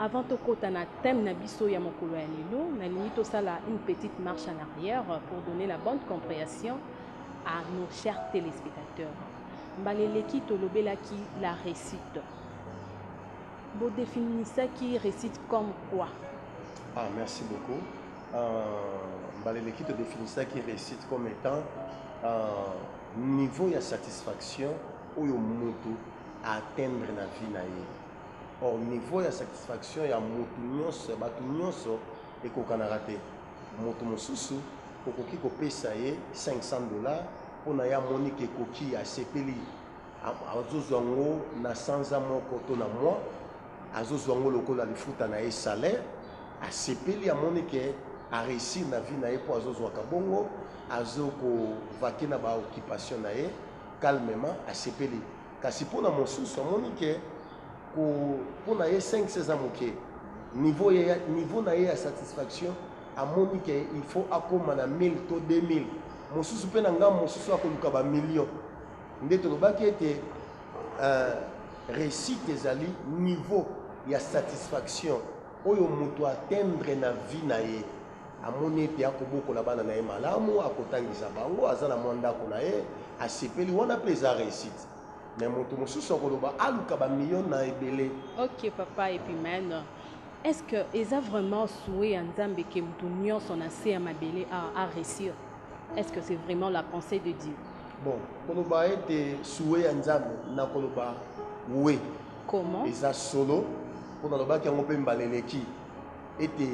Avant tokota na thème na biso ya mokolo ya lelo, nalingi tosala une petite marche en arrière pour donner la bonne compréhension à nos chers téléspectateurs. Mbala eleki tolobelaki la réussite. Bo définissaki réussite comme quoi? Ah, merci beaucoup. Euh, mbala eleki to définissaki réussite comme étant euh, niveau ya satisfaction oyo mutu a atteindre na vie na ye or niveau ya satisfaction ya mutu nionso ya batu nionso ekokanaka te mutu mosusu okoki kopesa ye 500 dollars pona ye amoni ke ekoki asepeli azozwa ngo na sanza moko to na mois azozwa ngo lokola lifuta na ye salaire asepeli amoni ke a reussir na vie na ye po azozwaka bongo azo ko vaquer na ba occupation na ye Calmement, asepeli. Kasi mpo na mosusu, amoni que ko, mpo na ye 500 eza moke. Niveau ye, niveau na ye ya satisfaction, amoni que il faut akoma na 1000 to 2000. Mosusu mpe na ngambo mosusu akoluka ba millions. Nde tolobaki ete euh, reussite ezali niveau ya satisfaction oyo moto atteindre na vie na ye. Amoni ete akobokola bana na ye malamu, akotangisa bango, aza na mwa ndako na ye, asepeli, wana pe eza reussite. Mais moto mosusu akoloba aluka ba millions na ebele. Ok papa Epimène, est ce que eza vraiment souhait ya Nzambe que moto nionso na se ya mabele a a reussir? Est ce que c'est vraiment la pensee de Dieu? Bon, koloba ete souhait ya Nzambe, nakoloba oui. Comment? Eza solo, po nalobaki yango pe mbala eleki. Ete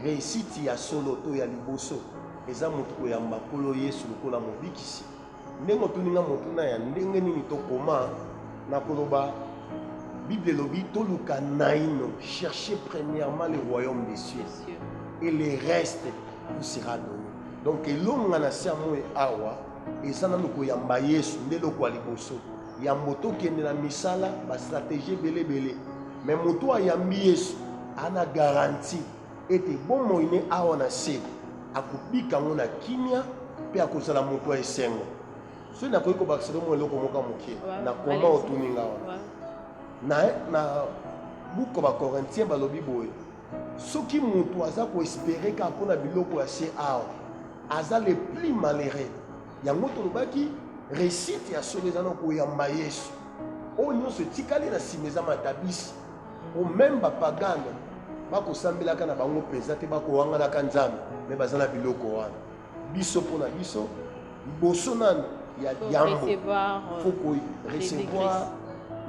reisiti ya solo to ya liboso eza moto koyamba Nkolo Yesu lokola Mobikisi. Ndenge otuni nga motuna ya ndenge nini to koma, na koloba Bible elobi toluka naino, cherchez premièrement le royaume des cieux et le reste vous sera donne. Donc elonga na se ya moi awa eza nanu koyamba Yesu nde eloko ya liboso. Yambo tokende na misala, ba strategie ebele ebele, mais moto ayambi Yesu ana garantie ete bomoi ne awa na se akobika yango na kimia mpe akozala moto ya esengo. Soki nakoki kobakisa mwa eloko moko ya moke na koma otuni nga wana na, na buku Bakorintien balobi boye soki moto aza koespere kaka mpo na biloko ya se awa aza le plus malheureux Yango tolobaki resite ya solo eza na koyamba Yesu. Oyo nyonso etikali na nsima eza matabisi. O meme bapagano bakosambelaka na bango mpenza te, bakowanganaka Nzambe me baza na biloko wana. Biso mpo na biso liboso nano ya yambo faut ko recevoir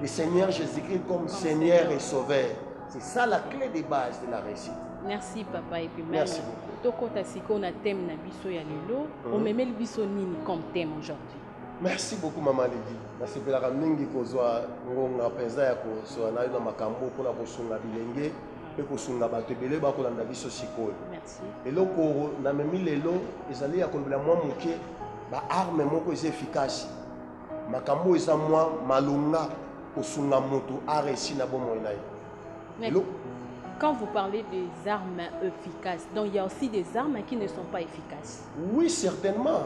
le Seigneur Jésus-Christ comme Seigneur et Sauveur. C'est ça la clé de base de la réussite. Merci papa et puis Merci beaucoup. Tokota siko na thème na biso ya lelo, mm -hmm. omemeli biso nini comme thème aujourd'hui? Merci beaucoup maman Lydie. Nasepelaka mingi kozwa ngonga mpenza ya kozwa nayo na makambo mpona kosunga bilenge mpe kosunga bato ebele bakolanda biso sikoyo eloko namemi lelo ezali ya kolobela mwa moke baarme moko eza effikasi Makambo oyo eza mwa malonga kosunga moto a réussi na bomoi na ye. Elo... Quand vous parlez des armes efficaces, donc il y a aussi des armes qui ne sont pas efficaces. Oui, certainement.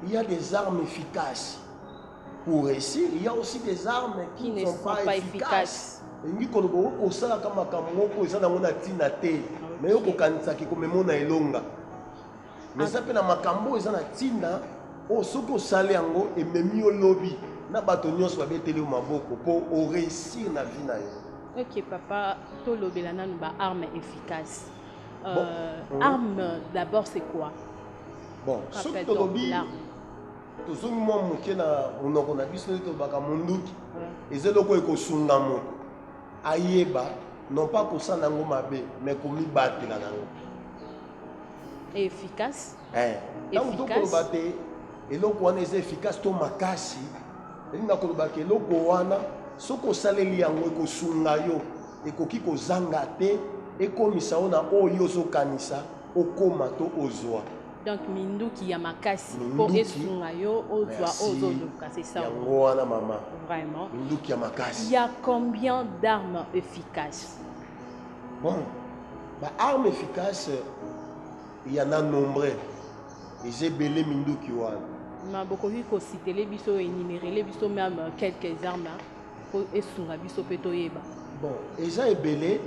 Il y a des armes efficaces pour réussir. Il y a aussi des armes qui, qui ne sont, sont pas, pas efficaces. efficaces. elingi koloba okoki kosalaka makambo moko eza nango na ntina te me yo kokanisaki komemona elonga mais eza mpe na makambo oyo eza na ntina oyo soki osali yango ememi yo lobi na bato nyonso babeteli yo maboko mpo oreusir na vie na yo ok papa tolobela nanu ba arme efficace euh, bon. Mhm. arme d'abord c'est quoi bon soki tolobi tozongi mwa moke na monoko na biso nde tolobaka monduki eza eloko ekosunga moto ayeba non pas kosala yango mabe mais komibatela na yango efficace eh ntango tokoloba te eloko wana eza efficace to makasi elingi na koloba ke eloko wana soki osaleli yango ekosunga yo ekoki kozanga te ekomisa yo na oyo ozokanisa okoma to ozwa donc minduki ya makasi mpo esunga yo ozwa ozoluka c'est ça yango wana mama vraiment minduki ya makasi ya combien d'armes efficace bon ba arme efficace ya na nombre eza ebele minduki wana ma bokoki kositele biso enimerele biso meme euh, quelques armes mpo esunga biso mpe toyeba bon eza ebele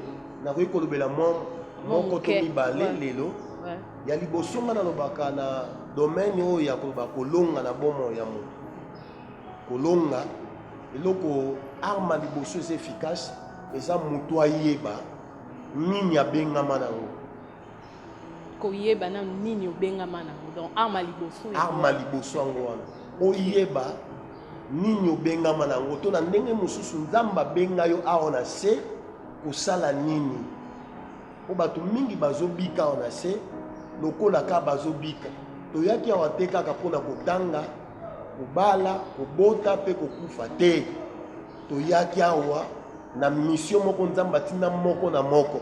nakoki kolobela mwa moko to mibale lelo ya liboso nga nalobaka na domaine oyo ya koloba kolonga na bomoi ya moto kolonga eloko arme liboso eza efficace eza moto ayeba nini abengama na yango koyeba nanu nini obengama na yango donc arma liboso arma liboso yango wana oyeba nini obengama na yango to na ndenge mosusu nzambe abenga yo awa na se kosala nini mpo bato mingi bazobika awa na se lokola kaka bazobika toyaki awa te kaka mpo na kotanga kobala kobota mpe kokufa te toyaki awa na mission moko nzambe atinda moko na moko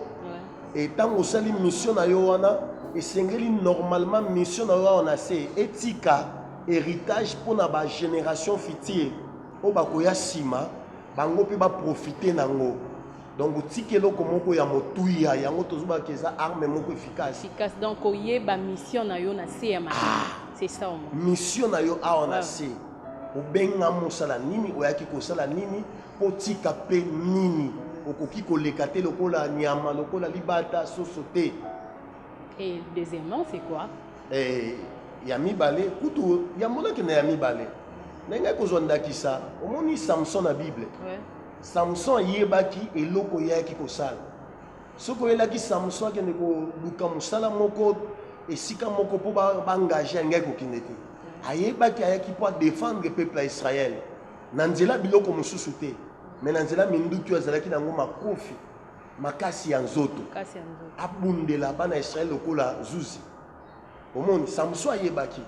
e ntango osali mission na yo wana esengeli normalement mission na yo awa na se etika héritage mpo na bagénération future oyo bakoya nsima bango mpe baprofite na yango donc otika eloko moko ya motuya yango tozobaka eza arme moko efficace efficace donc oyeba mission na yo na se ya mabele ah, c'est ça mission na yo awa na se obengami osala nini oyaki kosala nini kotika mpe nini okoki koleka te lokola nyama lokola libata soso te et deuxièmement c'est quoi eh, ya mibale kutu yambo nakenda ya mibale ndenge kozwa ndakisa omoni samson na bible ouais. samson ayebaki eloko eyaki kosala Soki oyelaki Samson akende koluka mosala moko esika moko mpo baengage yangai kokende te, ayebaki ayaki mpo adefendre peuple ya Israel na nzela biloko mosusu te, me na nzela minduki oyo azalaki na yango makofi makasi ya nzoto, abundela bana ya Israel lokola zuzi. omoni samson ayebaki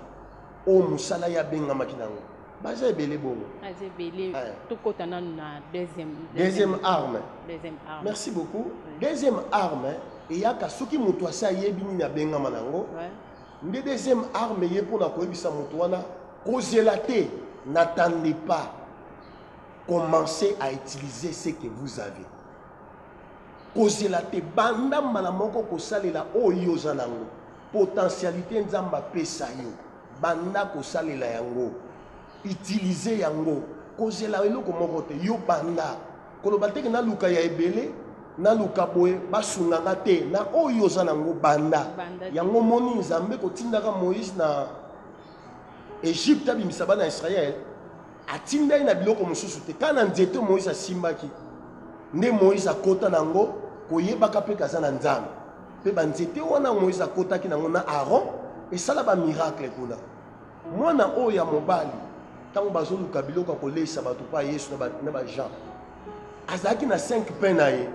oyo mosala ye abengamaki na yango baza ebele bongo aza ebele eh. tokɔta nanu na deuxième deuxième arme deuxième arme merci beaucoup deuxième arme eyaka soki moto asi ayebi nini abengama na yango nde deuxième arme ye mpo na koyebisa moto wana kozela te n'attendez pas commencez à utiliser ce que vous avez Kozela te, banda mbala moko kosalela oyo oza na yango. Potentialite Nzambe apesa yo, banda kosalela yango. Utiliser yango. Kozela eloko moko te, yo banda. Koloba te ke naluka ya ebele, naluka boye, basunga nga te. Na oyo oza na yango, banda. Yango omoni Nzambe kotindaka Moïse na Egypte abimisa bana Israël. Atindaki na biloko mosusu te, kaka na nzete Moïse asimbaki nde Moïse akota na yango, koyebaka mpe kaza na Nzambe. Mpe banzete wana Moïse akotaki na yango na Aaron esala ba miracle kuna. Mwana oyo ya mobali ntango bazoluka biloko ya koleisa bato mpa Yesu na ba Jean azalaki na 5 pain na ye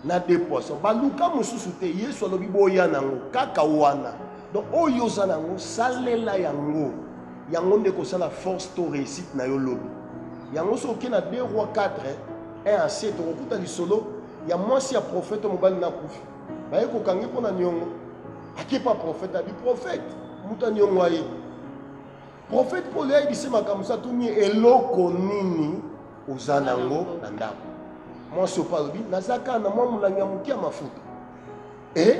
na de poisson baluka mosusu te yesu alobi boya na yango kaka wana donc oyo oza na yango salela yango yango nde ekosala force to réussite na yo lobi yango soki oke na 2 roi 4 1 a 7 okokuta lisolo ya mwasi ya profete mobali na kufi baye kokangi mpo na niongo akepa profete abi profete moto ya niongo aye Prophète Paul a dit makambo sa tuni eloko nini oza nango na ndako. Moi so pas dit nazaka na moi mulangi ya mukia mafuta. Et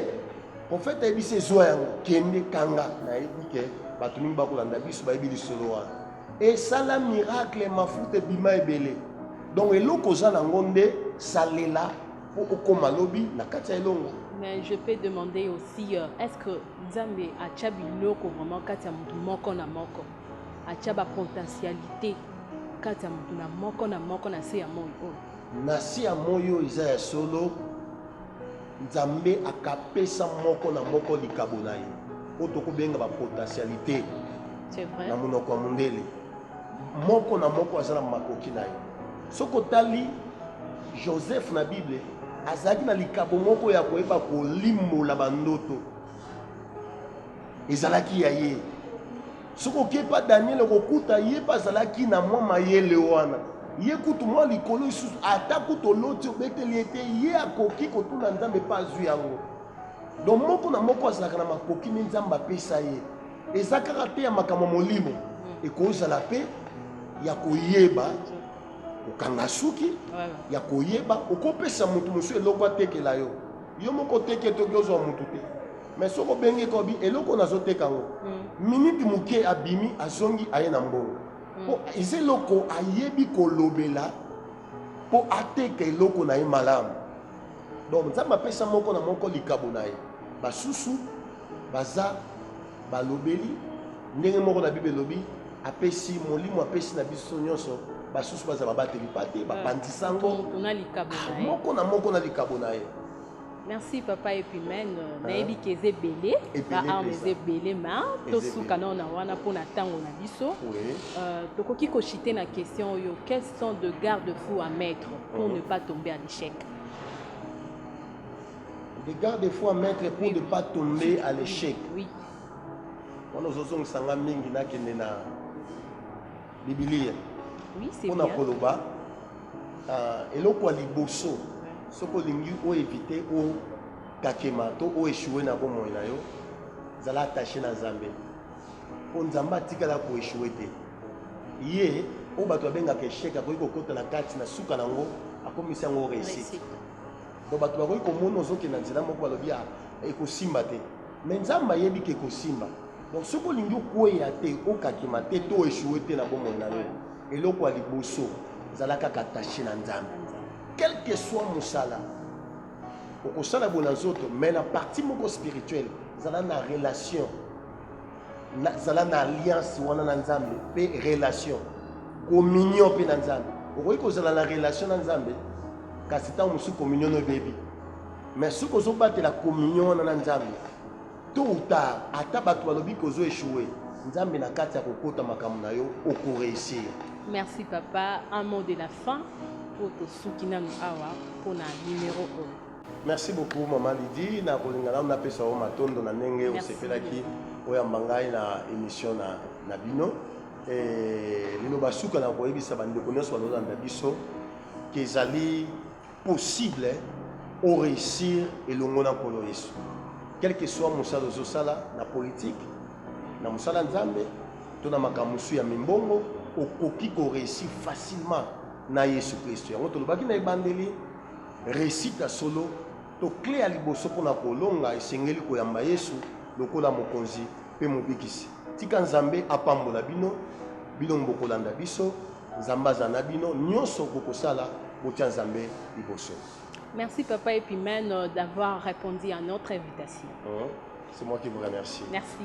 prophète a dit c'est zwa yango kende kanga na yebi ke bato mingi bakolanda biso bayebi lisolo wana. Et sala miracle mafuta ebima ebele. Donc eloko oza nango nde salela po okoma lobi na kati ya elongo. Mais je peux demander aussi, euh, est-ce que Nzambe atia biloko vraiment kati ya moto moko na moko, atia ba potentialite kati ya moto na moko na moko na se ya moi oyo. Na se ya moi oyo eza ya solo, Nzambe akapesa moko na moko likabo na ye oyo tokobenga ba potentialite na monoko ya mondele. Moko na moko aza na makoki na ye. Soki otali Joseph na Bible, azalaki na likabo moko ya koyeba kolimbola bandoto. Ezalaki ya ye. Soki oke pa Daniel okokuta ye mpe azalaki na mwa mayele wana. Ye kutu mwa likolo isusu ata kutu oloti obeteli ye te, ye akoki kotuna Nzambe mpe azwi yango. Donc moko na moko azalaka na makoki nde Nzambe apesa ye. eza kaka mpe ya makambo ya molimo hmm. ekozala mpe ya koyeba kokanga suki ya koyeba okopesa moto mosusu eloko atekela yo yo moko oteke toki ozwa moto te mais soki obengi ekobi eloko nazoteka yango hmm. miniti moke abimi azongi aye na mbongo hmm. mpo eza eloko ayebi kolobela mpo ateka eloko na ye malamu donc nzambe apesa moko na moko likabo na ye basusu baza balobeli ndenge moko na bible elobi apesi molimo apesi na biso nyonso basusu baza babateli pa te bapanzi sango ah, moko na moko na likabo na ye merci papa epimene ah. nayebi ke eza ebele baarme eza ebele ma tosuka nao na wana mpo na ntango na biso euh, tokoki kochite na question oyo quels sont de garde fou à mettre pour ah. ne pas tomber à l'échec Regarde des fois maître pour oui, ne pas tomber oui, à l'échec. Oui. wana ozozongisa nga mingi nakende na bibilia mpo na koloba ah, eloko ya liboso soki olingi oevite okakema to oeshue na bomoi na yo zala attache na nzambe mpo nzambe atikala koeshue te ye oyo bato babengaka eshek akoki kokota na kati na suka na yango akomisi yango réussite donc bato bakoki komona ozokende na nzela moko balobi ah, ekosimba te me nzambe ayebi ke ekosimba donc soki olingi okweya te okakima te to echoue te na bomoi na yo eloko ya liboso zala kaka attache na nzambe quelque soit mosala okosala boye na nzoto mais na partie moko spirituelle zala na relation zala na alliance wana na nzambe mpe relation communion mpe na nzambe okoki kozala na relation na nzambe kasi ntango mosusu communion ebebi mais soki ozobatela communion wana na nzambe to utard ata bato balobi kozo echoue nzambe na kati ya kokota makambo na yo okoreusir merci papa un mot de la fin mpo tosuki nanu awa mpo na numero oyo Merci beaucoup maman Lydie, na kolinga nanu napesa yo matondo na ndenge osepelaki oyamba ngai na emission na, na bino eh, liloba suka na koyebisa bandeko nyonso balolanda biso ke ezali possible oreusir elongo na nkolo yesu quel que soit mosala ozosala na politike na mosala nzambe to na makambo mosusu ya mimbongo okoki koreusir facilement na yesu kristo yango tolobaki na ebandeli Reusite ya solo to cle ya liboso mpo na kolonga esengeli koyamba Yesu lokola Mokonzi mpe Mobikisi. Tika Nzambe apambola bino, bino bokolanda biso, Nzambe azala na bino, nionso bokosala botia Nzambe liboso. Merci Papa Epimène d'avoir répondu à notre invitation. Hein? C'est moi qui vous remercie. Merci.